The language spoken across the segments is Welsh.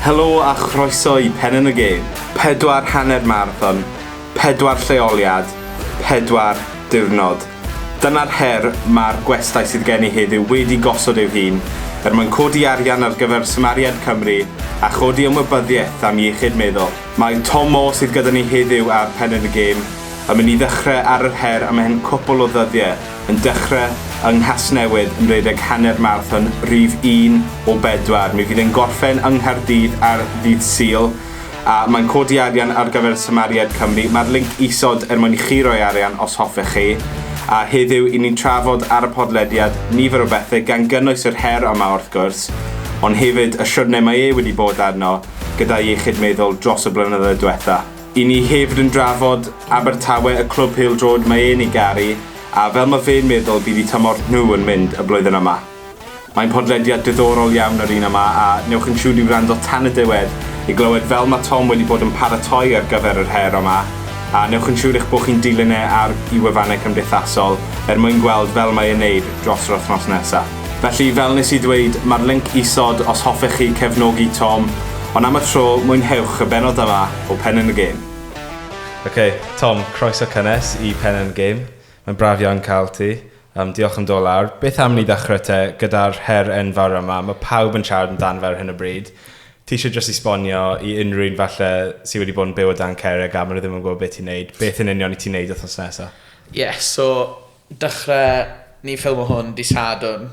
Helo a chroeso i Pen yn y Gêm! Pedwar hanner marathon, pedwar lleoliad, pedwar diwrnod. Dyna'r her mae'r gwestai sydd gen i heddiw wedi gosod eu hun er mwyn codi arian ar gyfer Smariad Cymru a chodi ymwybyddiaeth am iechyd meddwl. Mae Tom Moore sydd gyda ni heddiw ar Pen yn y Gêm yn mynd i ddechrau ar yr her am hen cwpl o ddyddiau. yn dechrau yng Nghasnewydd yn rhedeg hanner marathon rif un o bedwar. Mi fydd e'n gorffen yng Nghaerdydd ar ddydd Sul, a mae'n codi arian ar gyfer Samariaid Cymru. Mae'r linc isod er mwyn i chi roi arian os hoffech chi. A heddiw, i ni'n trafod ar y podlediad nifer o bethau, gan gynnwys yr her yma wrth gwrs, ond hefyd y siwrne mae e wedi bod arno gyda'i iechyd meddwl dros y blynyddoedd diwetha'. I ni hefyd yn drafod Abertawe y clwb pêl-droed mae e'n ei garu a fel ma fe'n meddwl bydd i tymor nhw yn mynd y blwyddyn yma. Mae'n podlediad diddorol iawn yr un yma a newch yn siwr i wrando tan y diwedd i glywed fel ma Tom wedi bod yn paratoi ar gyfer yr her yma a newch yn siwr eich bod chi'n dilyn e ar i wefannau cymdeithasol er mwyn gweld fel mae e'n neud dros yr wthnos nesa. Felly, fel nes i ddweud, mae'r linc isod os hoffech chi cefnogi Tom, ond am y tro, mwynhewch y bennod yma o Pen yn y Gêm. Ok, Tom, croeso cynnes i Pen yn y Gêm. Mae'n braf iawn cael ti. Yym, diolch am dod lawr. Beth am ni ddechrau te gyda'r her enfawr yma, mae pawb yn siarad amdano fe ar hyn o bryd. Ti eisiau jyst esbonio i unrhyw un falle sydd wedi bod yn byw o dan cerrig a maen nhw ddim yn gwybod beth ti'n neud, beth yn union i ti'n neud wythnos nesaf? Ie, so Dechre ni ffilmo hwn dydd Sadwrn,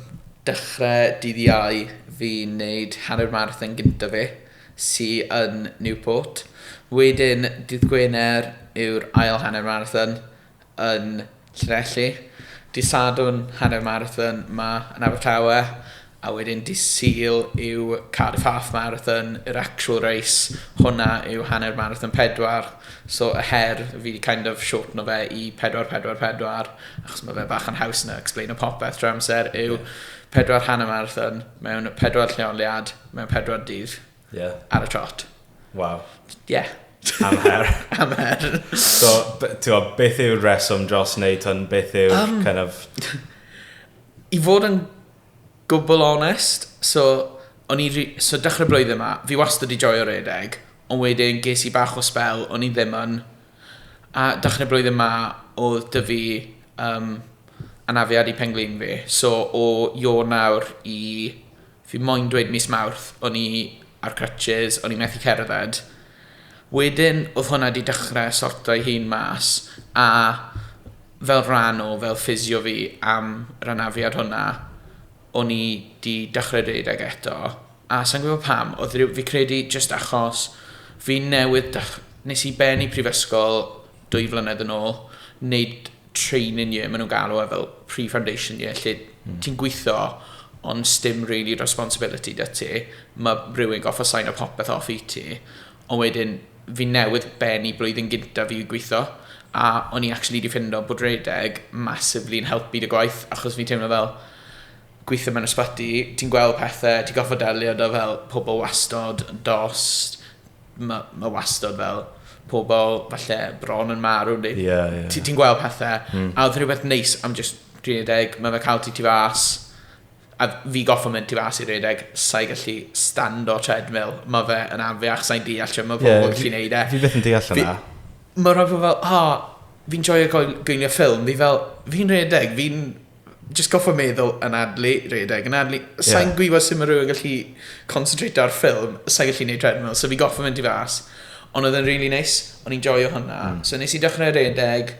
dechre dydd Iau fi'n neud hanner marathon gynta fi sy yn Newport, wedyn dydd Gwener yw'r ail hanner marathon yn Llanelli, dydd Sadwrn hanner marathon 'ma yn Abertawe A wedyn dydd Sul yw Cardiff Half Marathon, yr actual race, hwnna yw hanner marathon pedwar, so y her, fi 'di kind of shortno fe i pedwar, pedwar, pedwar, achos ma' fe bach yn haws na explaino popeth trwy'r amser, yw pedwar hanner marathon mewn pedwar lleoliad, mewn pedwar dydd, yeah. ar y trot. Waw. Ie. Yeah. Am her. Am her. So, ti'n gwybod, beth yw'r reswm dros wneud hwn? Beth yw'r um, kind of... I fod yn Gwbl onest, so, o'n i ri- so dechre'r blwyddyn 'ma, fi wastad 'di joio redeg, ond wedyn ges i bach o sbel o'n i ddim yn, a dechre'r blwyddyn 'ma odd 'da fi yym anafiad i pen-glin fi, so o Ionawr i, fi moyn dweud mis Mawrth, o'n i ar crutches, o'n i methu cerdded, Wedyn oedd hwnna 'di dechrau sorto'i hun mas, a fel rhan o fel ffisio fi am yr anafiad hwnna, o'n i 'di dechrau rhedeg eto, a sa i'n gwybod pam, oedd rhyw... fi'n credu jyst achos fi newydd dech- wnes i bennu prifysgol, dwy flynedd yn ôl, wneud training year, maen nhw'n galw e fel pre-foundation year, lle mm. ti'n gweithio ond stym really responsibility dy ti, mae rhywun goffa sain o popeth off i ti, ond wedyn fi newydd ben i blwyddyn gynta fi gweithio, a o'n i actually di ffindo bod redeg massively yn helpu dy gwaith, achos fi teimlo fel gweithio mewn ysbyty, ti'n gweld pethau, ti'n goffa delio da fel pobl wastod, dost, ma, ma wastad fel pobl falle bron yn marw, neu yeah, yeah. ti'n ti gweld pethau, mm. a oedd rhywbeth neis am just 30, mae fe cael ti tu fas, a fi goffa mynd tu fas i 30, sa'i gallu stand o treadmill, mae fe yn anfiach, sa'i'n deall lle mae pobl yeah, gallu neud e. Fi beth yn deall yna. Mae rhaid pobl fel, ha, fi'n joio gwylio ffilm, fi fel, fi'n rhedeg, fi'n just goffa meddwl yn adlu, redeg yn adlu. Sa'n yeah. gwybod sut mae rhywun gallu concentrate ar ffilm, sa'n gallu gwneud treadmill, so fi goffa mynd i fas. Ond oedd yn really nice, o'n i'n joio hwnna. Mm. So nes i dechrau redeg,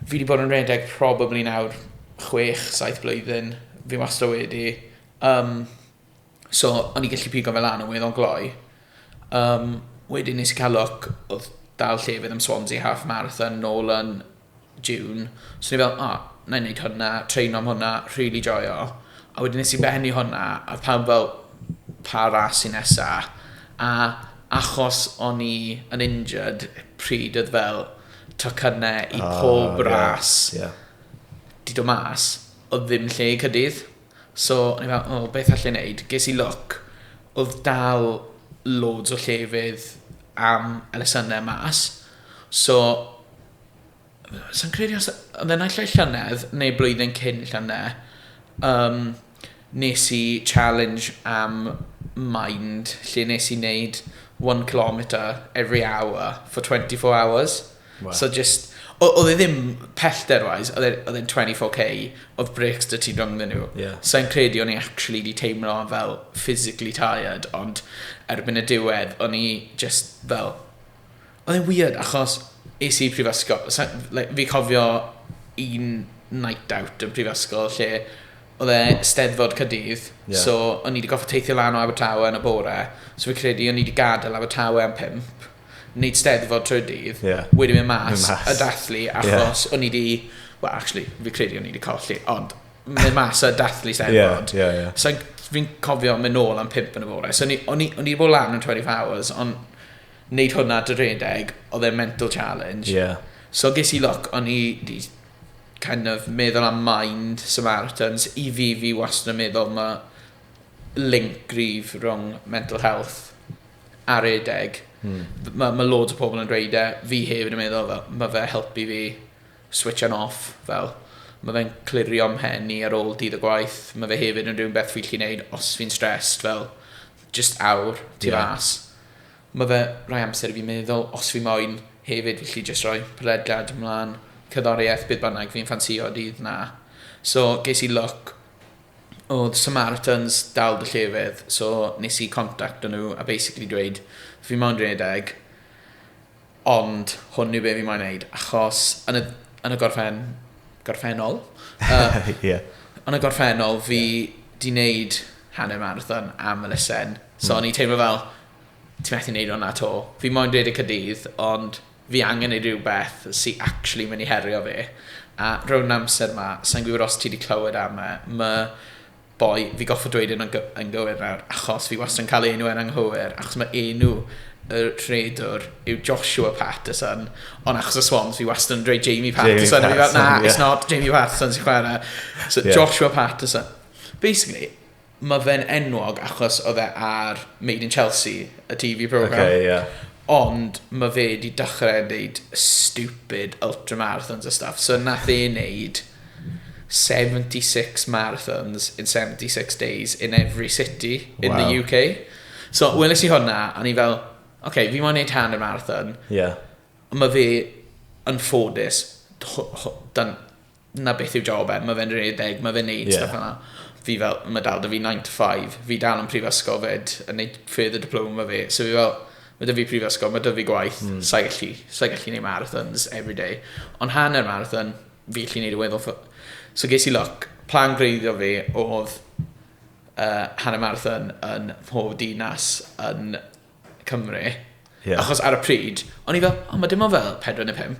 fi wedi bod yn redeg probably nawr 6-7 blwyddyn, fi wastad wedi. Um, So, o'n i gallu pigo fe lan a weud o'n gloi. Um, wedyn nes i cael look, oedd dal llefydd am Swansea Half Marathon nôl yn June. So ni fel, o, oh, na i wneud hwnna, train am hwnna, really joio. A wedyn nes i bennu hwnna, a pawb fel, pa ras sy'n nesa. A achos o'n i yn injured, pryd oedd fel tocynnau i ah, pob oh, ras, yeah, yeah. di do mas, oedd ddim lle i cydydd. So o'n i fel oh beth allai neud? Ges i look odd dal loads o llefydd am elusenne mas so sai'n credu os odd e naill ai llynedd neu blwyddyn cyn llynedd yym nes i challenge am mind lle nes i neud one kilometre every hour for 24 hours. Wow. So just, o- oedd e ddim pellter-wise, oedd e- oedd e'n 24k, oedd breaks dy ti rhwng nhw. Yeah. So i'n credu o'n i actually di teimlo fel physically tired, ond erbyn y diwedd, o'n i just fel... Oedd e'n weird, achos es i prifysgol, so, like, fi cofio un night out yn prifysgol lle oedd e steddfod cydydd, yeah. so o'n i wedi goffa teithio lan o Abertawe yn y bore, so fi credu o'n i wedi gadael Abertawe am pimp, wneud steddfod trwy dydd, yeah. wedi mynd mas, mas, y dathlu, achos yeah. o'n i di, well, actually, fi credu o'n i di colli, ond mynd mas y dathlu steddfod. Yeah, yeah, yeah. So fi'n cofio mynd nôl am pimp yn y fore. So o'n i wedi bod lan yn 20 hours, ond wneud hwnna dy redeg, oedd e'n mental challenge. Yeah. So ges i loc, o'n i di kind of meddwl am mind Samaritans. I fi, fi wastad yn meddwl mae link gryf rhwng mental health a redeg. Mm. Mae ma loads o pobl yn dweud e, fi hefyd yn meddwl, fel, mae fe helpu fi switch on off, fel, mae fe'n clirio mhen i ar ôl dydd y gwaith, mae fe hefyd yn rhywun beth fi'n chi'n neud os fi'n stressed, fel, just awr, ti yeah. fas. Mae fe rhoi amser i fi meddwl, os fi moyn, hefyd fi chi just rhoi prydlad ymlaen, cyddoriaeth, bydd bynnag fi'n ffansio dydd na. So, ges i look odd Samaritans dal dy llefydd so nes i contacto nhw a basically dweud fi moyn rhedeg ond hwn yw be fi moyn neud achos yn y, yn y gorffen, gorffennol uh, yeah. yn y gorffennol fi yeah. di neud hanner marathon am y lysen so mm. o'n i teimlo fel ti methu neud o'na to fi moyn rhedeg cydydd ond fi angen ei ryw beth sy actually myn i herio fi a rown amser ma sai'n gwybod os ti di clywed am e ma boi fi goffa dweud e yn gywir nawr achos fi wastad yn cael ei enw e'n anghywir achos ma enw y rhedwr yw Joshua Patterson ond achos y swans fi wastad yn dweud Jamie Patterson, Jamie Patterson na yeah. it's not Jamie Patterson sy'n chwarae so yeah. Joshua Patterson basically Mae fe'n enwog achos oedd e ar Made in Chelsea, y TV programme. Okay, yeah. Ond mae fe wedi dechrau wneud stupid ultramarathons a stuff. So nath e wneud 76 marathons in 76 days in every city in wow. the UK. So, weles i hwnna, a ni fel, oce, okay, fi mo'n neud hanner marathon. Yeah. Mae fe yn ffodus, dan na beth yw job e, mae fe'n redeg, mae fe'n neud yeah. stuff yna. Fi fel, mae dal da fi 9 to 5, fi dal yn prifysgol fed, yn neud further diploma fe, so fi fel, mae da fi prifysgol, mae da fi gwaith, mm. sa'i gallu, sa'i gallu neud marathons every day. Ond hanner marathon, fi gallu neud y weddol. So ges i look, plan greiddio fi oedd uh, hanner marathon yn mhob dinas yn Cymru. Yeah. Achos ar y pryd, o'n i fel, oh, mae dim ond fel 4 neu 5.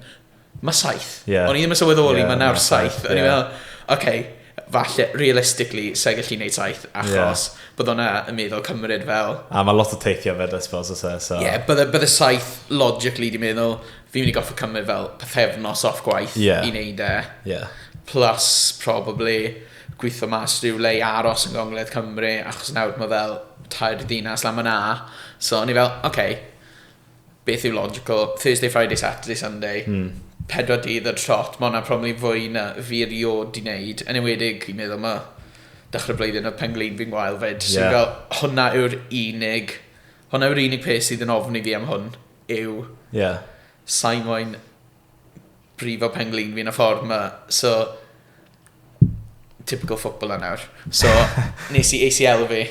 Mae 7. Yeah. O'n i ddim yn sylweddoli, yeah, mae nawr 7. O'n i fel, okay, falle, realistically, sa'i gallu gwneud 7, achos yeah. bydd o'na yn meddwl cymryd fel... A mae lot o teithio fed, I suppose, os e, so... Ie, yeah, bydde, bydde 7, logically, di meddwl, fi'n mynd i goffa cymryd fel pethefnos off gwaith yeah. i wneud e. Yeah. Plus, probably, gwitho mas rhyw le i aros yn gongledd Cymru achos nawr ma' fel tair dinas lan myn 'na so o'n i fel ok beth yw logical Thursday Friday Saturday Sunday hmm. pedwar dydd y trot ma' hwnna probably fwy na fi erioed di neud yn enwedig fi'n meddwl ma' dechrau blwyddyn oedd pen-glin fi'n gwael fyd yeah. so fel hwnna yw'r unig hwnna yw'r unig peth sydd yn ofni fi am hwn yw yeah. sa'i moyn brifo penglin fi yn y ffordd ma. So, typical footballer nawr. So, nes i ACL fi.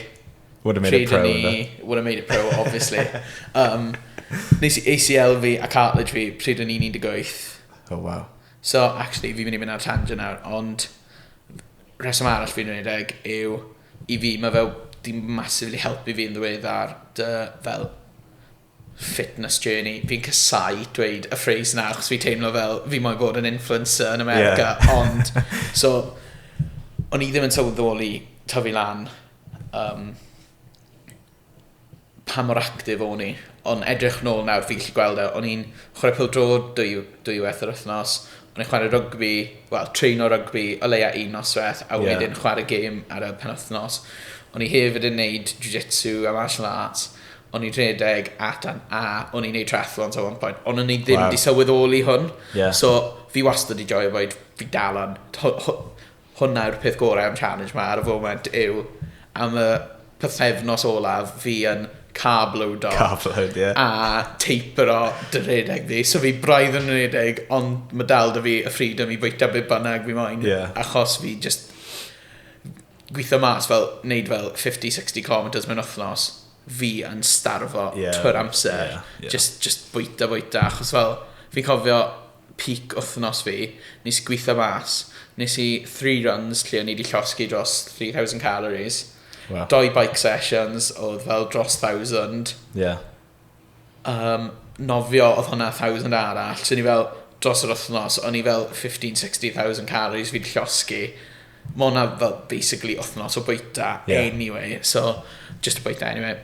Would have made it pro. Ni, would have made it pro, obviously. um, nes i ACL fi a cartilage fi pryd o'n i'n 18. Oh, wow. So, actually, fi'n mynd i fynd ar tangent nawr, ond rheswm arall fi'n rhaid ag yw i fi, mae fel, di massively helpu fi yn ddweud ar dy fel fitness journey. Fi'n casau dweud y phrase na, achos fi teimlo fel fi moyn bod yn influencer yn America, yeah. ond... So, o'n i ddim yn sylweddoli tyfu lan um, pa mor actif o'n i. Ond edrych nôl nawr, fi gallu gweld e. O'n i'n chwarae pil drod dwy, dwy weth yr wythnos. O'n i'n chwarae rygbi, wel, treino rygbi o leia un noswaith, a yeah. wedyn chwarae gêm ar y penwthnos. O'n i hefyd yn neud jiu-jitsu a martial arts. o'n i'n rhedeg at an A, o'n i'n neud triathlons at one point, ond o'n i ddim wow. di sylweddoli hwn. Yeah. So, fi wastad i joio boed fi dal yn... Hwna yw'r peth gorau am challenge ma ar y foment yw am y pythefnos olaf fi yn carb load off. Carb load, ie. Yeah. A taper o dy rhedeg fi. So fi braidd yn rhedeg, ond mae dal da fi y ffrid am i fwyta beth bynnag fi moyn. Yeah. Achos fi just gwitho mas fel, neud fel 50, 60 kilometres mewn wythnos, fi yn starfo yeah, twr amser, yeah, yeah. Just, just bwyta, bwyta, achos fel, fi'n cofio peak wythnos fi, nes i gwitho mas, nes i three runs lle o'n i wedi llosgi dros 3,000 calories, wow. doi bike sessions oedd fel dros 1,000, yeah. yym nofio odd hwnna thousand arall so o'n i fel dros yr wthnos o'n i fel fifteen sixteen thousand calories fi'n llosgi ma' wnna fel basically wthnos o bwyta... Ie. ...anyway so jyst y bwyta anyway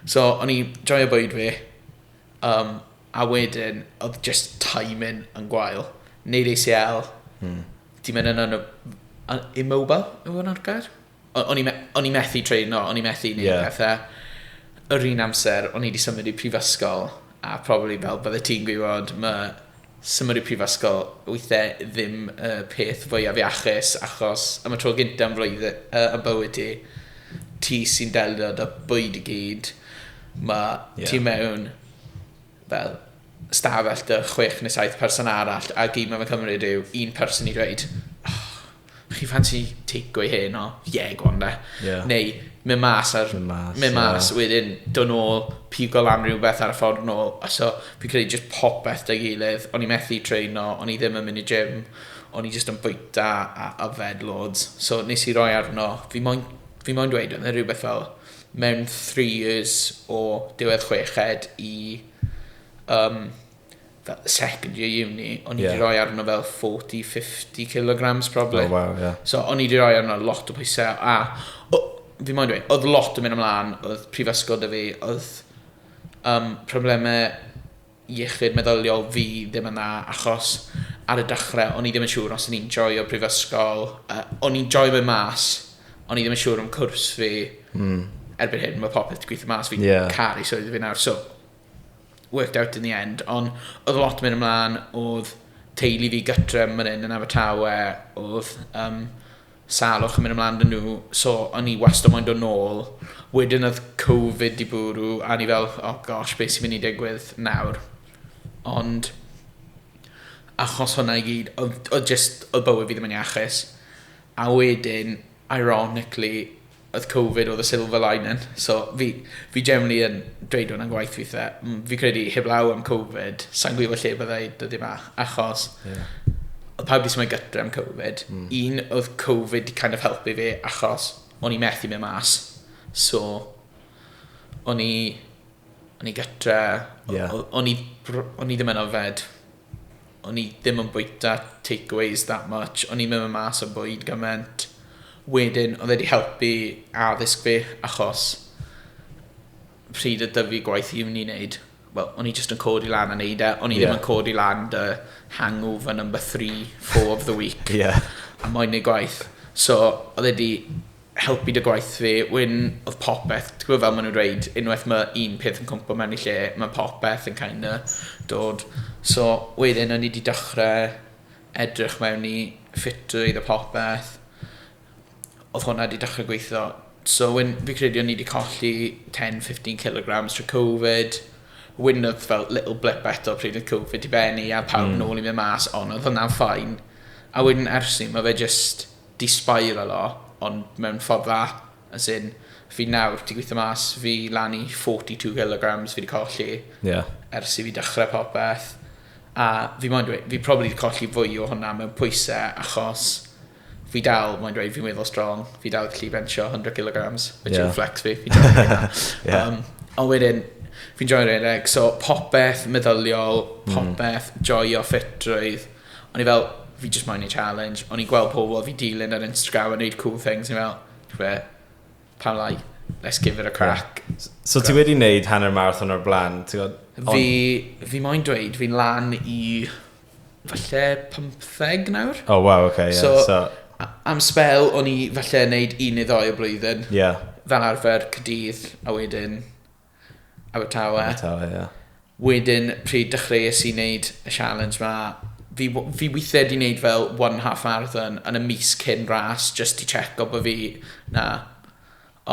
so o'n i joio bwyd fi yym a wedyn odd jyst timing yn gwael. Neud Ay See Ell. Hmm. 'di myn' yn yno- yn immobile yw wnna'r gair? o- o'n i me- o'n i methu traino, o'n i methu neud yeah. pethau. Yr un amser, o'n i wedi symud i prifysgol, a probably fel bydde ti'n gwybod, mae symud i prifysgol weithiau ddim y uh, peth fwyaf iachus, achos am y tro gyntaf yn flwydd uh, y bywyd ti, ti sy'n delio da bwyd i gyd, mae yeah. ti mewn fel stafell 'da chwech neu saith person arall a gyd mae fe'n cymryd yw un person i ddweud oh, chi ffansi tecawê heno? Ie, yeah, go on de. Yeah. Neu mynd mas ar... Mynd mas. Mynd mas, yeah. wedyn dod nôl, pigo lan rhywbeth ar y ffordd nôl. So, fi credu just popeth da gilydd. O'n i methu treino, o'n i ddim yn mynd i gym, o'n i just yn bwyta a yfed loads. So, nes i roi arno, fi moyn, fi moyn dweud, oedd e rhywbeth fel mewn three years o diwedd chweched i um, second year uni, o'n i yeah. wedi rhoi arno fel 40-50 kilograms probably. Oh, wow, yeah. So o'n i wedi rhoi arno lot o pwysau, a o, fi moyn dweud, oedd lot yn mynd ymlaen, oedd prifysgol da fi, oedd um, problemau iechyd meddyliol fi ddim yna achos ar y dechre o'n i ddim yn siŵr os o'n i'n joio prifysgol. Yy o'n i'n joio fe mas, o'n i ddim yn siŵr am cwrs fi. Hmm. Erbyn hyn ma' popeth 'di gwitho mas fi'n... Ie. ...caru swydd fi nawr so worked out in the end on' odd lot myn' ymlan odd teulu fi gytre myn 'yn yn Abertawe odd yym Salwch yn mynd ymlan 'da nhw so o'n i wastad moyn dod nôl. Wedyn oedd Covid 'di bwrw a o'n i fel oh gosh be sy'n mynd i digwydd nawr? Ond achos hwnna i gyd oedd oedd jyst oedd bywyd fi ddim yn iachus. A wedyn ironically oedd covid oedd y silver lining so fi fi generally yn dweud hwn yn gwaith weithe fi credu heblaw am covid sa'n gwybod lle byddai dyddi yma achos yeah. oedd pawb wedi symud gytre am covid mm. un oedd covid di kind of helpu fi achos o'n i methu mynd mas so o'n i o'n i gytre yeah. o'n i o'n i ddim yn ofed O'n i ddim yn bwyta takeaways that much, o'n i'n mynd mas am bwyd gymaint. Wedyn oedd e 'di helpu addysg fi achos pryd oedd 'da fi gwaith uni neud wel o'n i jyst yn codi lan a neud e o'n i... Ie. ...ddim yn codi lan dy hangover number three four of the week... Ie. ...a moyn neud gwaith. So oedd e 'di helpu 'da gwaith fi, wedyn oedd popeth, ti'n gwbod fel ma' nhw'n dweud, unwaith ma' un peth yn cwmpo mewn i lle, ma' popeth yn kind of dod. So, wedyn o'n i 'di dechre edrych mewn i ffitrwydd a popeth, oedd hwnna 'di dechre gweithio. So wedyn fi'n credu o'n i 'di colli ten, fifteen kilograms trwy Covid, wedyn oedd fel little blip eto pryd oedd Covid 'di bennu a pawb nôl i mynd mas, ond oedd hwnna'n fine. A wedyn ers 'ny ma' fe jyst... Di-spiralo, ond mewn ffordd dda, as in, fi nawr, ti'n gweithio mas, fi lan i forty two kilograms fi 'di colli... Ie. ...ers i fi dechrau popeth, a fi moyn dweud, fi probably 'di colli fwy o hwnna mewn pwyse, achos fi dal moyn dweud, fi'n weddol strong, fi dal gallu bensio hundred kilograms, which is a flex fi, fi'n joio hynna. Ie. Yym, ond wedyn, fi'n joio rhedeg, so popeth meddyliol, popeth joio ffitrwydd. O'n i fel, fi jyst moyn neud challenge. O'n i'n gweld pobl fi dilyn ar Instagram yn neud cool things. O'n i fel, ti'n gwe, pam lai? Let's give it a crack. So ti wedi neud hanner marathon o'r blaen, ti'n gwybod? Fi, fi moyn dweud, fi'n lan i falle 15 nawr. Oh wow, okay, yeah. So, so... am spel, o'n i falle neud un neu ddoi o blwyddyn. Yeah. Fel arfer, cydydd, a wedyn Abertawe. Abertawe, ie. Wedyn, pryd dechreuais i wneud y sialens 'ma, fi w- fi withiau 'di wneud fel one and a half marathon yn y mis cyn ras jyst i tseco bod fi 'na.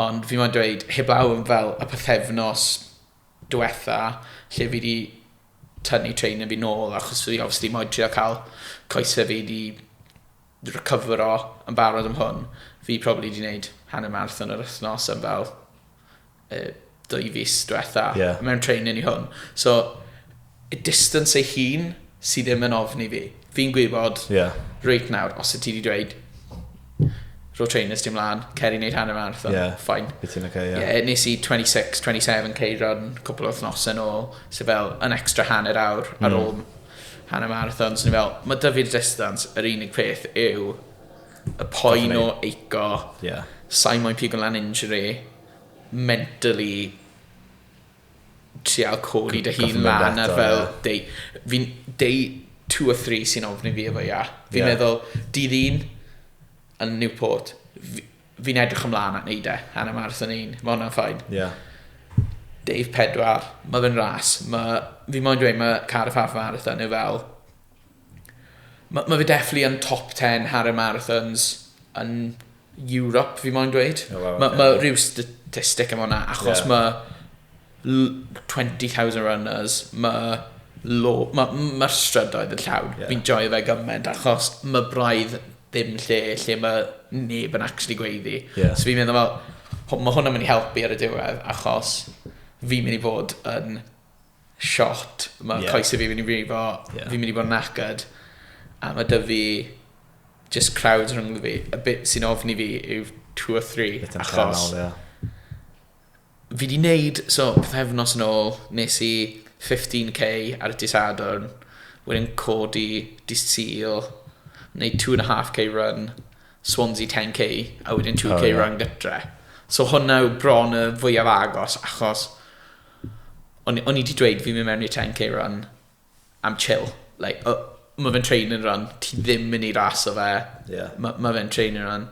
Ond fi moyn dweud, heblaw am fel y pythefnos diwetha lle fi 'di tynnu trainer fi nôl achos fi obviously moyn trio cael coesau fi 'di recyfro yn barod am hwn, fi probably 'di wneud hanner marathon yr wythnos yn fel uh, dwy fus diwetha yeah. mewn training i hwn. So, y distance ei hun sydd ddim yn ofni fi. Fi'n gwybod, yeah. reit nawr, os ydy wedi dweud, ro trainers dim lan, cer i wneud hanner marathon, yeah. ffain. Bydd ti'n okay, yeah. yeah. Nes i 26, 27 cei run cwpl o wythnos yn ôl, so fel yn extra hanner awr mm. ar hmm. ôl hanner marathon, so ni fel, mae dyfu'r distance, yr unig peth yw y poen o eico, yeah. sain moyn pigo lan injury, mentally trial codi dy hun lan ar fel day, fi'n day 2 or 3 sy'n ofni fi efo ia. Fi'n yeah. meddwl, dydd un yn Newport, fi'n edrych ymlaen at neud e, Hanna Mars yn un, mae hwnna'n ffain. Yeah. Dave Pedwar, mae fe'n ras, mae, fi moyn dweud, mae Cardiff Half Marathon yw fel Ma' ma' fe definitely yn top ten hanner marathons yn Europe fi moyn dweud. O waw. Ma' ma' ryw statistic am wnna achos ma' l- twenty thousand runners ma' lo- ma' m- ma'r strydoedd yn llawn. Ie. Fi'n joio fe gyment achos ma' braidd ddim lle lle ma' neb yn actually gweiddi. Ie. So fi'n meddwl fel ho- ma' hwnna'n myn' i helpu ar y diwedd achos fi'n myn' i fod yn shot, mae yeah. coesau fi mynd i frifo, yeah. fi'n mynd i bod yn acad, a mae dy fi just crowds rhwng fi. A bit sy'n ofni fi yw two or three, Bit achos... Channel, yeah. Fi di wneud, so, pethefnos yn ôl, nes i 15k ar y disadwn, wedyn codi disil, neu 2.5k run, Swansea 10k, a wedyn 2k oh, yeah. run gytre. So hwnna yw bron y fwyaf agos, achos O'n o'n i 'di dweud fi'n mynd mewn i'r ten K run am chill. Like o- ma' fe'n training run ti ddim myn' i raso fe. Ie. Ma' ma' fe'n training run.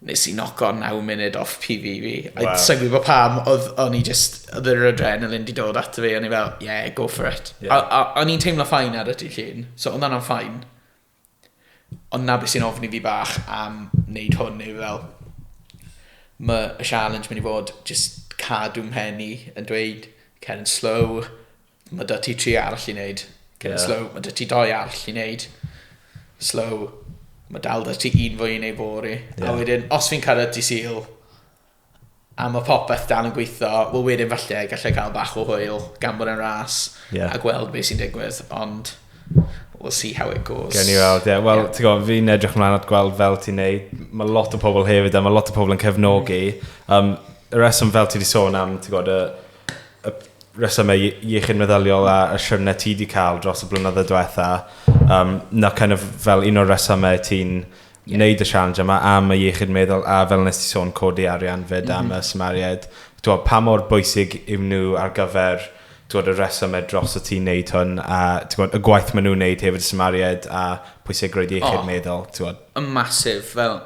Nes i noco naw munud off Pee Bee fi. Waw. A sai'n gwbo pam odd o'n i jyst odd yr adrenaline 'di dod ato fi o'n i fel yeah go for it. Ie. A a o'n i'n teimlo fine ar y dy' Llun so odd wnna'n fine. Ond 'na be sy'n ofni fi bach am wneud hwn yw fel, ma' y sialens mynd i fod jyst cadw 'mhen i yn dweud cer yn slow, ma' 'da ti tri arall i wneud, cer yn slow, ma' 'da ti dou arall i wneud, slow, ma' dal 'da ti un fwy i wneud fory. A wedyn, os fi'n cyrraedd dydd Sul, a ma' popeth dal yn gweitho, wel wedyn falle gallai cael bach o hwyl gan bod e'n ras yeah. a gweld beth sy'n digwydd, ond we'll see how it goes. Gawn ni weld, ie. Yeah. Wel, yeah. ti'n gwybod, fi'n edrych ymlaen at gweld fel ti'n neud. Mae lot o pobl hefyd, a mae lot o pobl yn cefnogi. Um, y reswm fel ti wedi sôn am, ti'n gwybod, y, y resymau iechyd meddyliol a y siwrne ti wedi cael dros y blynyddoedd diwetha, um, na kind of fel un o'r resymau ti'n yeah. wneud y sialens yma am y iechyd meddwl a fel nes ti sôn codi arian fyd am mm -hmm. y symariaid. Dwa, pa mor bwysig yw nhw ar gyfer dwa, y reswm e dros y ti'n neud hwn a dwa, y gwaith maen nhw'n neud hefyd y symariaid a pwysigrwydd iechyd oh, meddwl. Dwa. Y masif fel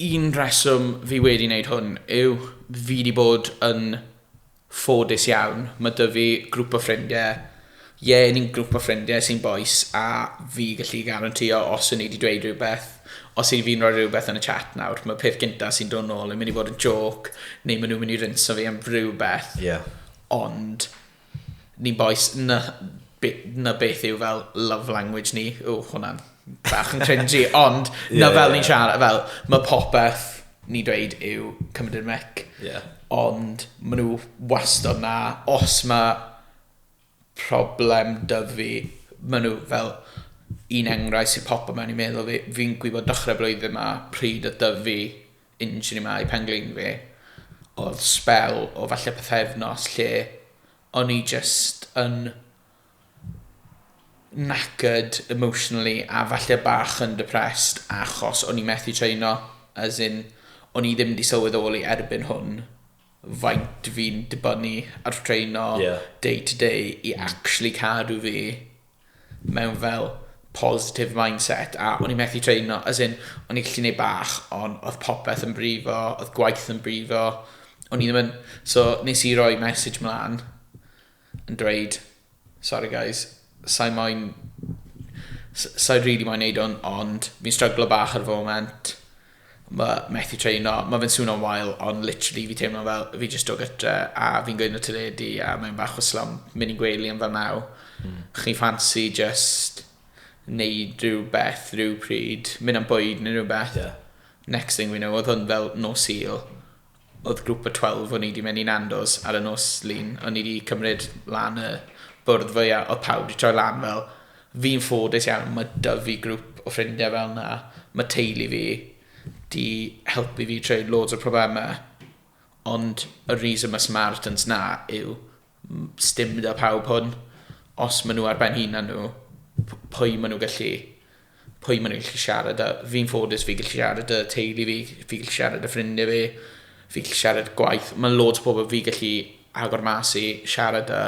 Un rheswm fi wedi wneud hwn yw fi wedi bod yn ffodus iawn. Mae 'da fi grŵp o ffrindiau, ie, ni'n grŵp o ffrindiau sy'n bois a fi'n gallu garantîo os 'y ni 'di dweud rhywbeth, os yw fi'n rhoi rhywbeth yn y chat nawr, mae'r peth gynta sy'n dod nôl yn mynd i fod yn jôc neu maen nhw'n mynd i rinsio fi am rhywbeth... Ie... Ond... Ni bois, na be- na beth yw fel love language ni. Ww, hwnna'n bach yn cringy, ond Ie, na fel ie. ni'n siarad, fel, ma' popeth ni'n dweud yw cymryd i'r mic, Ie. ond ma' nhw wastad 'na, os ma' problem 'da fi, ma' nhw fel, un enghraifft sy'n popo mewn i meddwl fi, fi'n gwybod dechrau'r blwyddyn 'ma pryd oedd 'da fi Un tro yma i pen-glin fi, oedd sbel o falle pythefnos lle o'n i jyst yn knackered emotionally a falle bach yn depressed achos o'n i methu traino, as in o'n i ddim 'di sylweddoli erbyn hwn faint fi'n dibynnu ar traino yeah. day to day i mm. actually cadw fi mewn fel positive mindset a o'n i'n methu traino, as in, o'n i'n gallu gwneud bach, ond oedd popeth yn brifo, oedd gwaith yn brifo, o'n i ddim yn... So, nes i roi message mlaen, yn dweud sorry guys sai moyn s- sai rili really moyn neud hwn ond fi'n stryglo bach ar y foment ma methu treino ma fe'n swnio'n wael ond literally fi teimlo fel fi jyst do gytre a fi'n gweud na teledu a mae'n bach o slwm mynd i'n gwely am fel naw mm. chi fancy just neud rhywbeth rhyw pryd mynd am bwyd neu rhywbeth yeah. next thing we know oedd hwn fel no seal Oedd grŵp y twelve o'n i 'di mynd i Nando's ar y nos Lun, o'n i 'di cymryd lan y bwrdd fwya, oedd pawb 'di troi lan fel, fi'n ffodus iawn, ma' 'da fi grŵp o ffrindiau fel 'na, ma' teulu fi 'di helpu fi trwy loads o problemau, ond y reason ma' Samaritans 'na yw Sdim da pawb hwn. Os maen nhw ar ben hunan nhw, p- pwy maen nhw gallu... pwy maen nhw gallu siarad â? Fi'n ffodus fi gallu siarad â teulu fi, fi gallu siarad â ffrindiau fi, fi gallu siarad gwaith. Mae loads o pobl fi gallu agor mas i, siarad â,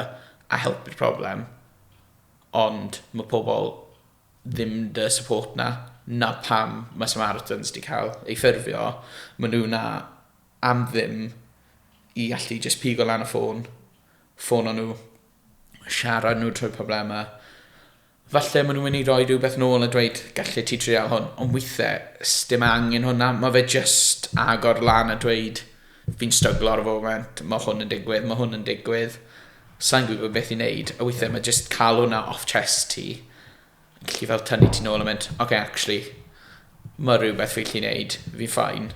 a helpu'r problem. Ond mae pobl ddim 'da support 'na. 'Na pam mae Samaritans 'di cael eu ffurfio. Maen nhw 'na... am ddim i allu jyst pigo lan y ffôn, ffono nhw, siarad nhw trwy'r problemau. Falle maen nhw'n mynd i roi rhywbeth nôl a dweud, gallu ti trial hwn, ond weithiau, sdim angen hwnna, mae fe jyst agor lan a dweud, fi'n stryglo ar y foment, mae hwn yn digwydd, mae hwn yn digwydd, sa'n gwybod beth i wneud, a weithiau yeah. mae jyst cael hwnna off chest ti, yn gallu fel tynnu ti'n ôl a mynd, oce, okay, actually, mae rhywbeth fi'n gallu wneud, fi'n ffain.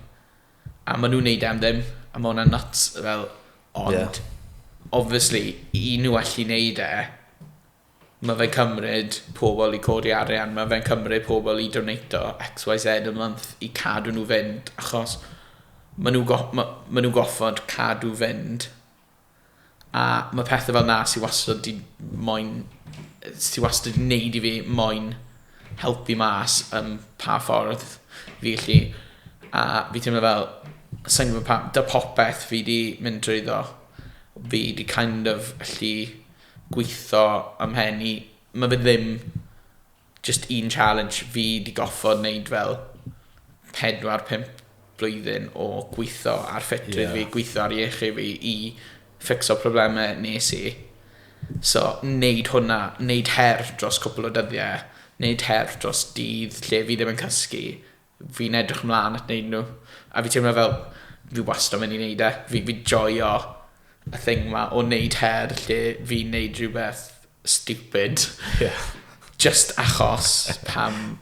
A ma' nw'n neud e am ddim a ma' wnna'n nyts fel ond... Ie. ...obviously i nw allu neud e ma' fe'n cymryd pobol i codi arian ma' fe'n cymryd pobol i doneito ecs wai zed y month i cadw nw fynd achos ma' nw go- ma' ma' nw goffod cadw fynd A ma' pethe fel 'na sy wastad 'di moyn yy sy wastad 'di neud i fi moyn helpu mas yym pa ffordd fi ellu a fi teimlo fel sai'n gwbo pa- 'da popeth fi 'di mynd trwyddo fi 'di kind of allu gwitho ym mhen i ma' fe ddim Jyst un challenge fi 'di goffod neud fel pedwar pump blwyddyn o gwitho ar ffitrwydd fi, gwitho ar iechyd fi i ffixo probleme nes i. So neud hwnna, neud her dros cwpwl o dyddie, neud her dros dydd lle fi ddim yn cysgu, Fi'n edrych mlan at neud nhw. A fi teimlo fel fi wastad myn' i neud e. Fi fi'n joio y thing 'ma o neud her lle fi'n neud rhywbeth stupid. Ie. Jyst achos pam...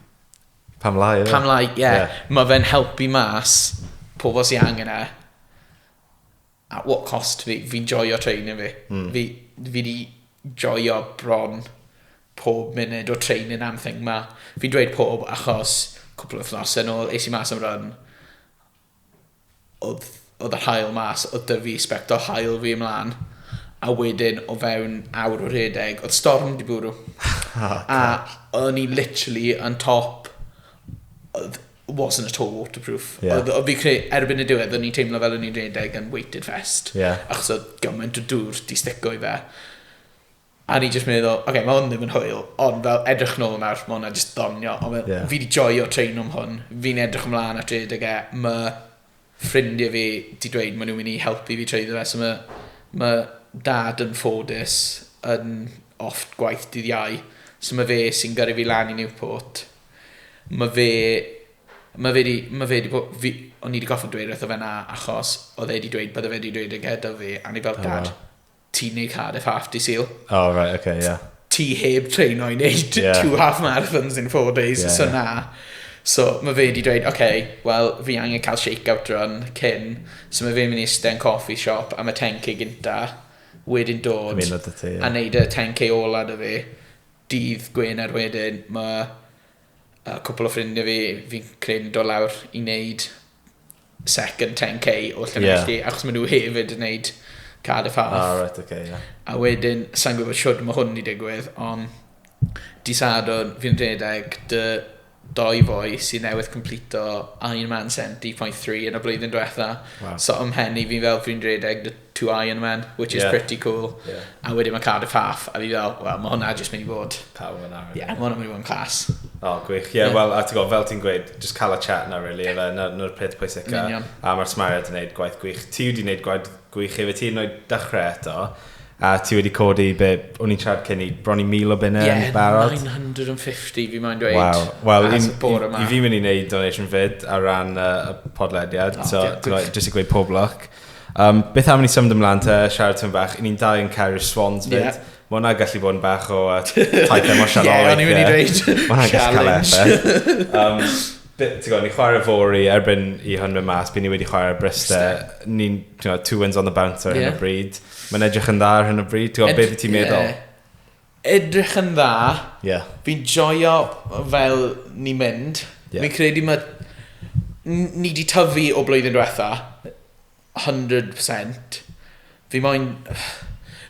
Pam lai yfe? Pam lai, ie. Ie. Ma' fe'n helpu mas pobl sy angen e. At what cost fi, fi'n joio training fi. Fi, fi di joio bron pob munud o training am thing ma. Fi'n dweud pob achos cwpl o wythnosau nôl es i mas am run, oedd, oedd yr haul mas, oedd da fi sbectol haul fi ymlaen, a wedyn o fewn awr o rhedeg, oedd storm di bwrw. A o'n i literally yn top, oedd, wasn't at all waterproof. Yeah. Oedd fi creu, erbyn y diwedd, o'n i'n teimlo fel o'n i'n rhedeg yn weighted vest. Yeah. Achos oedd gymaint o dŵr di stico i fe. A ni jyst meddwl, oce, okay, mae hwn ddim yn hwyl, ond fel edrych nôl nawr, mae hwnna jyst ddonio. Ond fel, yeah. fi di joio train o'm hwn, fi'n edrych ymlaen at rhedeg e, mae ffrindiau fi 'di dweud maen nhw'n mynd i helpu fi treiddo fe so mae mae dad yn ffodus yn off gwaith dydd Iau so mae fe sy'n gyrru fi lan i Newport mae fe mae fe 'di mae fe 'di bod fi o'n i 'di gorfod dweud wrtho fe na achos oedd e 'di dweud bydde fe 'di dweud e gyda fi a o'n i fel dad ti'n neud Cardiff half di Sul. Oh, right, okay, yeah. Ti heb traino i neud yeah. two half marathons in four days, yeah, so yeah. na. So mae fe wedi dweud, oce, okay, wel, fi angen cael shake-out run cyn. So mae fe'n mynd i eistedd yn coffee shop am y 10k gynta, wedyn dod ti, yeah. a neud y 10k ola dy fi. Dydd Gwener wedyn mae yy cwpwl o ffrindiau fi fi'n credu yn dod lawr i wneud second 10k o Llanelli yeah. achos maen nhw hefyd yn wneud Cardiff Half. Ah, right, okay, yeah. A wedyn, sa'n gwybod siwrd mae hwn i digwydd, ond di Sadwrn fi'n rhedeg dy dou foi sydd newydd complito Ironman 70.3 yn y blwyddyn diwetha. Wow. So ym mhen i fi'n fel fi'n redeg the two Ironman, which is yeah. pretty cool. Yeah. A wedyn mae Cardiff Half, a fi fel, wel, mae hwnna jyst mynd i fod. Pawb yn arfer. Yeah, mae hwnna'n mynd i fod yn clas. O, oh, gwych. Ie, yeah, yeah. wel, a ti'n gwybod, fel ti'n gweud, just cael y chat na, really, yeah. na'r peth pwysica. A mae'r smariad yn gwneud gwaith gwych. Ti wedi gwneud gwaith Gwych ife ti noed dechrau eto, a ti wedi codi be, o'n i'n siarad cyn i, bron i mil o bunna yeah, yn barod? Ie, 950 fi mae'n dweud. Wow, wel, i, i, i fi mynd i wneud donation fyd ar ran uh, y podlediad, oh, so yeah, jyst i gweud pob luck. Um, beth am ni symud ymlaen te, siarad tyn bach, ni'n dau yn cael i'r swans fyd. Yeah. Mae hwnna gallu bod yn bach o uh, taith emosiynol. Ie, o'n i'n mynd i dweud. Mae hwnna'n gallu cael effaith. Um, ti'n gwybod, ni'n chwarae fori erbyn i hwn mynd mas, byd ni wedi chwarae Briste. Ni'n, ti'n gwybod, two wins on the bounce ar hyn o bryd. Mae'n edrych yn dda ar hyn o bryd, ti'n gwybod, beth i ti'n meddwl? Yeah. Edrych yn dda. Yeah. Fi'n joio fel ni'n mynd. Yeah. Fi'n credu mae... Ni wedi tyfu o blwyddyn diwetha. hundred percent. Fi moyn...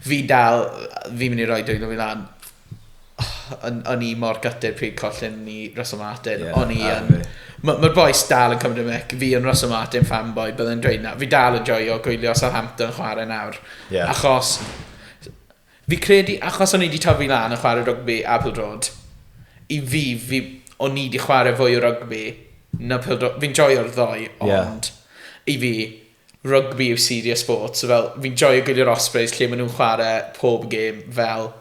Fi dal... Fi'n mynd i roi dwylo fi lan. O'n o'n i mor gutted pryd collin ni Russell Martin. Yeah, o'n i yn... Mae'r ma boys dal yn cymryd y mic. Fi yn Russell Martin fanboy, byddai'n dweud na. Fi dal yn joio gwylio Southampton chwarae nawr. Yeah. Achos... Fi credu achos o'n i 'di tyfu lan yn chwarae rygbi a pêl-droed, i fi, fi, o'n i 'di chwarae fwy o rygbi na pêl-droed. Fi'n joio'r ddou, ond i fi, rygbi yw serious sport. So fel, fi'n joio gwylio'r Ospreys lle maen nhw'n chwarae pob gêm fel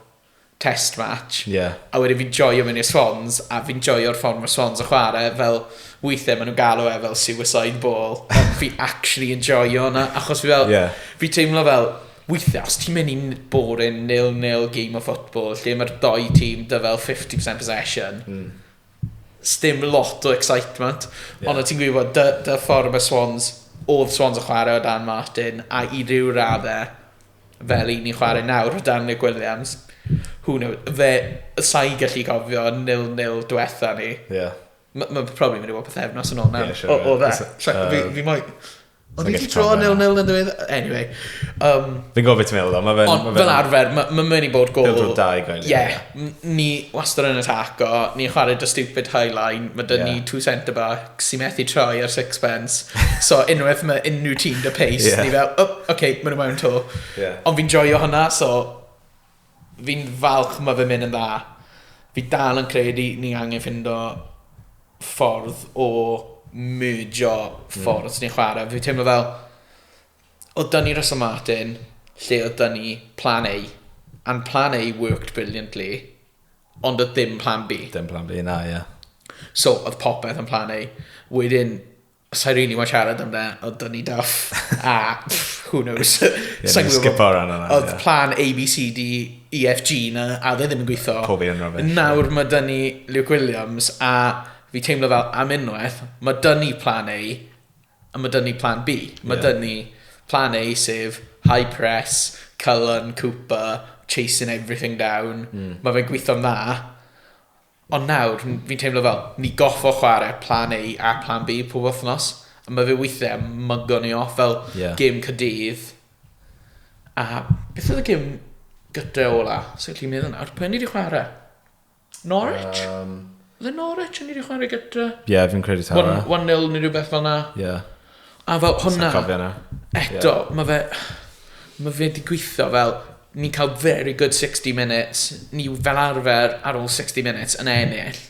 test match. Yeah. A wedyn fi'n joio mynd i'r Swans, a fi'n joio'r ffordd mae'r Swans yn chwarae, fel weithiau maen nhw'n galw e fel suicide ball. fi actually yn joio hwnna, achos fi fel, yeah. fi teimlo fel, Weithiau os ti'n mynd i n- boring nil nil game of football lle mae'r dou tîm 'da fel 50% possession... Mm. ...sdim lot o excitement. Ie. Ond o' ti'n gwybod dy dy ffordd mae Swans... oedd Swans yn chwarae o dan Martin a i ryw raddau fel y'n ni'n chwarae nawr o dan Nick Williams who kno- fe... sa i'n gallu cofio nil nil diwetha' ni. Ie. M- mae'n probably mynd i fod pythefnos yn ôl nawr... Ie siŵr o fod. ...o o fe. Sa- sa- fi fi moyn... O'n i 'di draw nil nil yn ddiwedd... Anyway. Um, Fi'n gofio ti'n meddwl o, mae fe'n... Ond fel arfer, mae ma mynd i bod gol... Pildro da i gael. Ie. Ni wastad yn ataco, ni'n chwarae dy stupid high line, mae dyn yeah. ni two centre back sy'n methu troi ar sixpence, so unwaith mae unrhyw tîm dy pace, yeah. ni fel, oh, oce, okay, maen nhw mewn to. Yeah. Ond fi'n joio hwnna, so Fi'n falch ma fe'n mynd yn dda. Fi dal yn credu ni angen ffindo ffordd o merjo ffordd mm. ni'n chwarae. Fi teimlo fel, oedd dyn ni Russell Martin, lle oedd dyn ni plan A, and plan A worked brilliantly, ond oedd dim plan B. Dim plan B na, ie. Yeah. So, oedd popeth yn plan A. Wedyn, Sa'i rili mo'n siarad am na, ond do'n i'n daff. A, who knows. Sa'n gwybod. Skip o'r anna. Oedd plan A, B, C, D, E, F, G na, a dde ddim yn gweithio. Pob un rhywbeth. Nawr mae dyn ni Luke Williams, a fi teimlo fel am unwaith, mae dyn ni plan A, a mae dyn ni plan B. Mae yeah. dyn ni plan A, sef high press, Cullen, Cooper, chasing everything down. Mm. Mae fe'n gweithio'n dda, Ond nawr, n- fi'n teimlo fel, ni goffo chware Plan A a Plan B pob wythnos, a ma' fe weithie yn mygo ni off, fel... Ie. ...gêm Caerdydd, a beth oedd y gêm gytre ola? Sai'n gallu meddwl nawr, pwy o'n ni 'di chware? Norwich? Yym. Oedd e Norwich o'n ni 'di chware gytre? Ie, fi'n credu taw fe. One one nil ne' rywbeth fel 'na. Ie. A fel hwnna... Sai'n cofio 'na. Eto, yeah. ma' fe... Ma' fe 'di gweithio fel, ni'n cael very good 60 minutes, ni fel arfer ar ôl 60 minutes yn ennill.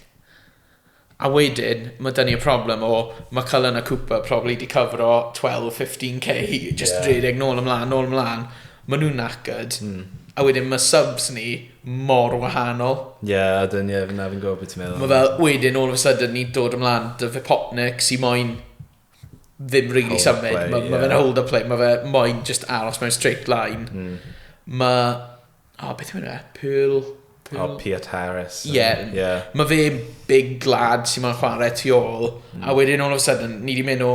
A wedyn, ma' dyn ni y problem o, ma' Cullen a Cooper probably 'di cyfro 12, 15k, just yeah. rhedeg nôl ymlaen, nôl ymlaen. Maen nhw'n knackered. Mm. A wedyn mae subs ni mor wahanol. Ie, yeah, ydyn, ie, yeah, na fi'n gwybod beth ti'n meddwl. Mae fel, wedyn, all of a sudden, ni'n dod ymlaen dy fe popnic sy'n moyn ddim really hold symud. Mae ma yeah. fe'n hold up play, mae fe moyn just aros mewn straight line. Mm. Mae, o, oh, beth yw'n e? Pearl... Pearl... Oh, Piet Harris. Ie. Yeah. yeah. Mae fe big lad sy'n moyn chwarae tu ôl. Mm. A wedyn, all of a sudden, ni wedi mynd o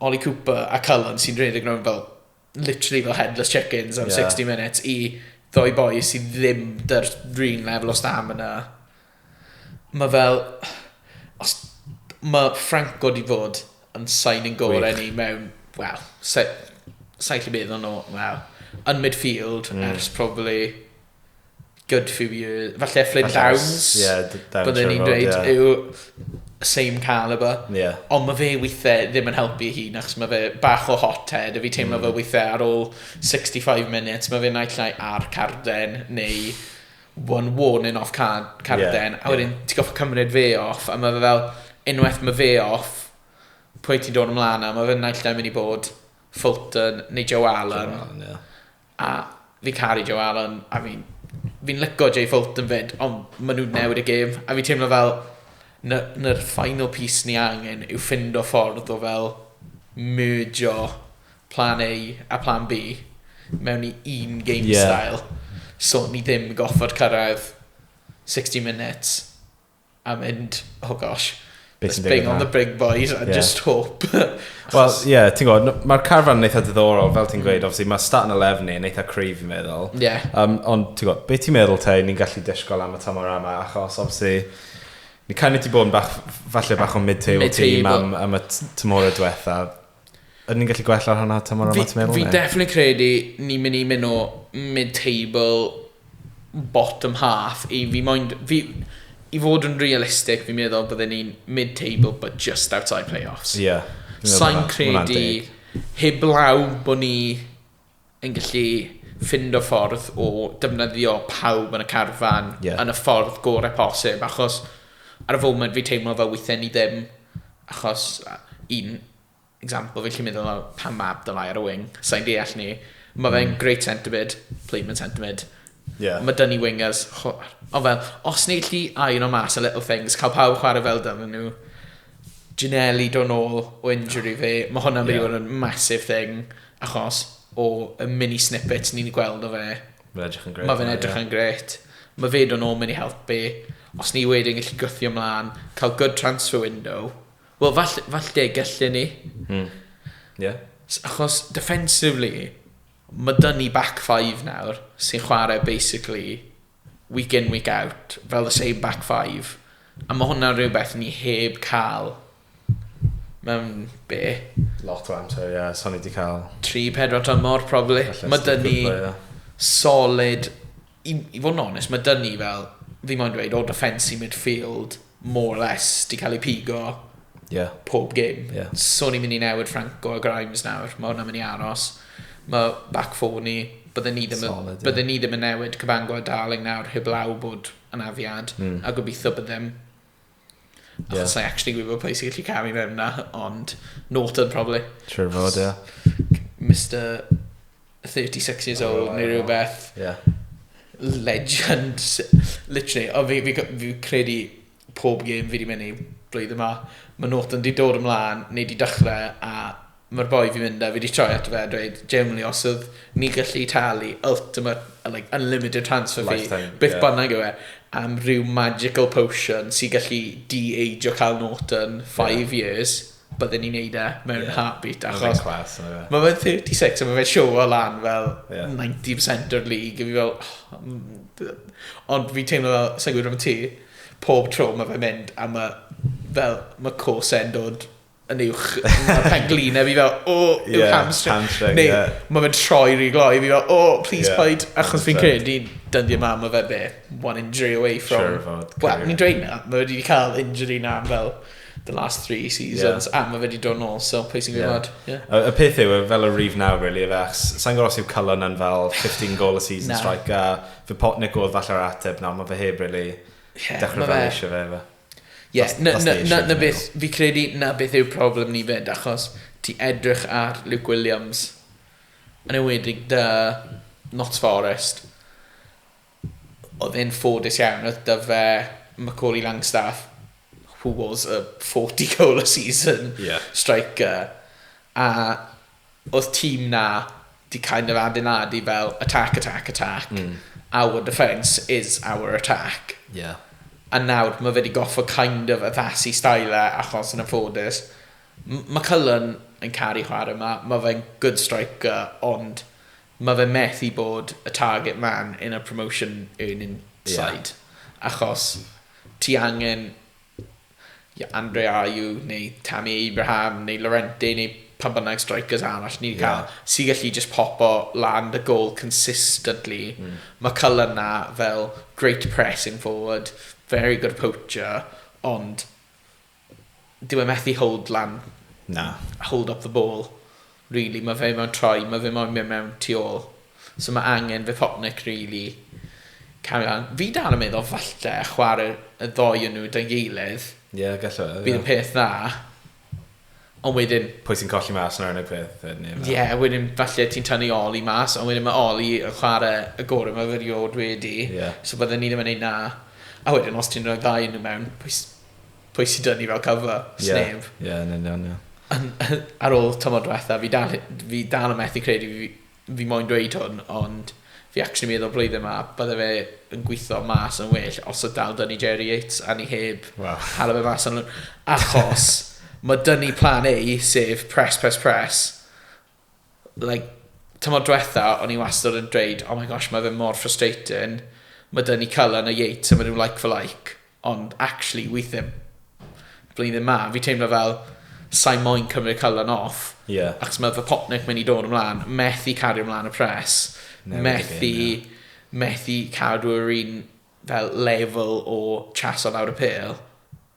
Ollie Cooper a Cullen sy'n rhedeg rhywun fel literally fel headless chickens am yeah. 60 minutes i ddoi boi sydd ddim dy'r rhywun level o stam yna. Mae fel... Os, mae Franco di fod yn signing gorau ni mewn... Wel, sa'n lle bydd o'n nhw, wel, yn midfield mm. ers probably good few years, falle Flynn Downs, yeah, byddwn ni'n dweud, yeah. yw same caliber. Yeah. Ond mae fe weithiau ddim yn helpu hi, achos mae fe bach o hot head, a fi teimlo mm. fe weithiau ar ôl 65 minutes, mae fe naill llai ar carden, neu one warning off card, carden, yeah. a wedyn yeah. ti'n goffa cymryd fe off, a mae fe fel, unwaith mae fe off, pwy ti'n dod ymlaen a mae fe naill llai mynd i bod Fulton neu Joe Allen. Joe Allen yeah. A fi'n caru Joe Allen a fi'n fi'n lico Jay Fulton 'fyd ond ma' nw'n newid y gêm a fi'n teimlo fel 'na 'na'r final piece ni angen yw ffindo ffordd o fel merjo plan A a plan Bee mewn i un game... Ie. ...style so ni ddim gorffod cyrraedd sixty minutes. a mynd, oh gosh, Beth sy'n let's bring digwydd on the nawr? big boys and Ie. just hope. Wel, Achos- ie, ti'n gwybod, n- mae'r carfan yn eitha diddorol, fel ti'n gweud, obviously, mae Staten a Lefni yn eitha cryf, fi'n meddwl. Mm. Ie. Um, ond, ti'n gwybod, beth ti'n meddwl te, ni'n gallu disgwyl am y tymor yma, achos, obviously, ni kind of ti bod yn bach, falle bach o mid-table Mid-table. team am, am y t- tymhorau diwetha. Ydyn ni'n gallu gwella ar hwnna tymor yma ti'n meddwl? Fi'n definitely credu ni'n mynd i mynd o mid-table, bottom half i fi moyn... Fi, I fod yn realistic fi'n meddwl bydden ni'n mid-table but just outside playoffs. Ie. Yeah, Sa'n credu heblaw bod ni yn gallu ffindo ffordd o defnyddio pawb yn y carfan... Ie. ...yn y ffordd gore posib, achos ar y foment fi'n teimlo fel weithiau ni ddim, achos un example fi'n gallu meddwl am pan ma Abdoulay ar y wing, sai'n deall ni. Ma fe'n great centre mid, played mewn centre mid. Ie. Ma da ni wingers chw- ond fel os ni'n gallu irono mas y little things, cael pawb yn chwarae fel dyddyn nhw, Ginnelly dod nôl o injury fe, ma hwnna'n mynd i fod yn massive thing. Achos o y mini snippets ni'n gweld o fe... Mae'n edrych yn grêt. ...Mae fe'n edrych yn grêt. Mae fe dod nôl mynd i helpu. Os ni wedyn gallu gwthio mlan, cael good transfer window. Wel fall- falle gelle ni. Hmm. Ie. S- achos defensively, ma' 'da ni back five nawr sy'n chware basically week in week out fel the same back five a ma' hwnna'n rhywbeth ni heb ca'l mewn be? Lot o amser ie so ni 'di ca'l... Tri pedwar tymor probably. Ma' 'da ni solid i i fod yn onest ma' 'da ni fel fi moyn dweud o defence i midfield more or less, di cael ei pigo yeah. pob gym. Yeah. So ni'n mynd i newid Franco a Grimes nawr, mae hwnna'n mynd i aros. Mae back four ni, byddwn ni ddim, Solid, yeah. bydde ni ddim yn newid Cabango a Darling nawr heblaw bod yn afiad, mm. a gobeithio byddem Yeah. Achos I actually gwybod pwy sy'n gallu camu mewn na, ond Norton probably. Trwy'r fod, ie. Yeah. Mr 36 years old oh, neu rhywbeth. Yeah. Legend. Literally. O, fi, fi, fi credu pob game fi wedi mynd i blwyddyn yma. Mae Norton wedi dod ymlaen, neu wedi dechrau, a mae'r boi fi mynd a fi wedi troi ato fe a dweud, generally, os oedd ni gallu talu ultimate, like, unlimited transfer fee, beth yeah. bynnag yw e, am rhyw magical potion sy'n gallu de-age o cael Norton 5 yeah. years, bydden ni'n neud e mewn yeah. heartbeat. Achos class, yeah. mae fe'n 36 a mae fe'n show o lan fel yeah. 90% o'r league. A fi fel, oh, ond fi teimlo fel, sa'n gwybod am ti, pob tro mae fe'n mynd a mae fel, mae cose'n dod yn uwch mae'r penglin a fi fel, o, oh, yw yeah, hamstring. hamstring Neu, yeah. mae fe'n troi rhi gloi, fi fel, o, oh, please yeah. paid, achos fi'n credu, dyddiau yma, mae fe be, one injury away from... Sure, well, ni'n dweud na, mae wedi cael injury na fel the last three seasons yeah. a mae fe wedi dod nôl so pwy sy'n gwybod yeah. yeah. y, y peth yw e, fel y rif nawr really efe achos sa'n gwybod os yw Cullen yn fel 15 goal a season nah. strike a fy Potnick oedd falle'r ateb nawr mae fe heb really yeah, dechrau fel eisiau fe efe Yes, na, na, na, na beth, fi credu na beth yw'r problem ni fed, achos ti edrych ar Luke Williams, yn ewedig dy Notts Forest, Oedd e'n ffodus iawn, oedd 'da fe Macauley Langstaff, who was a 40 goal a season striker, a oedd tîm 'na 'di kind of adeiladu fel attack, attack, attack, our defence is our attack. A nawr mae fe 'di gorfod kind of addasu style e achos yn anffodus, mae Cullen yn caru chwarae 'ma, mae fe'n good striker, ond Mae fe methu bod y target man in a promotion earning side achos ti angen ie Andre Ayew neu Tammy Abraham neu Llorente neu pam bynnag strikers arall ni 'di cael sy'n gallu jyst popo lan dy gôl consistently. Mae Cullen 'na fel great pressing forward, very good poacher ond Dyw e methu hold lan. Na. Hold up the ball. Rili ma' fe mewn troi ma' fe moyn myn' mewn tu ôl. So ma' angen Vypotnik rili cario lan. Fi dal yn meddwl falle chware y ddou o nw 'da'i gilydd. Ie galla fe ie. Bydd yn peth dda. Ond wedyn... Pwy sy'n colli mas nawr yn y peth yy neb nawr. Ie wedyn falle ti'n tynnu Oli mas ond wedyn ma' Oli yn chware y gore' ma' fe riod wedi. Ie. So bydden ni ddim yn neud 'na. A wedyn os ti'n roi ddau o nw mewn pwy s- pwy sy'n dynnu fel cover? Sneb. Ie, yeah, yn union, ie. Yeah. Ar ôl tymor diwetha, fi dal, fi dal yn methu credu fi, fi moyn dweud hwn, ond fi actually meddwl blwyddyn yma, bydde fe yn gweithio mas yn well os oedd dal dynnu Jerry Yates a ni heb wow. hala fe mas yn Achos mae dynnu plan A, sef press, press, press, like, tymor dwetha, o'n i wastad yn dweud, oh my gosh, mae fe mor frustrating. Mae dyn ni Cullen a Yates a maen nhw like for like. Ond actually, weithiau, blwyddyn ma, fi teimlo fel, sa'n moyn cymryd Cullen off. Yeah. Ac mae fy popnic mynd i dod ymlaen, methu cario ymlaen y pres. Newid methu, game, yeah. methu cadw yr un fel level o chaso lawr y pêl.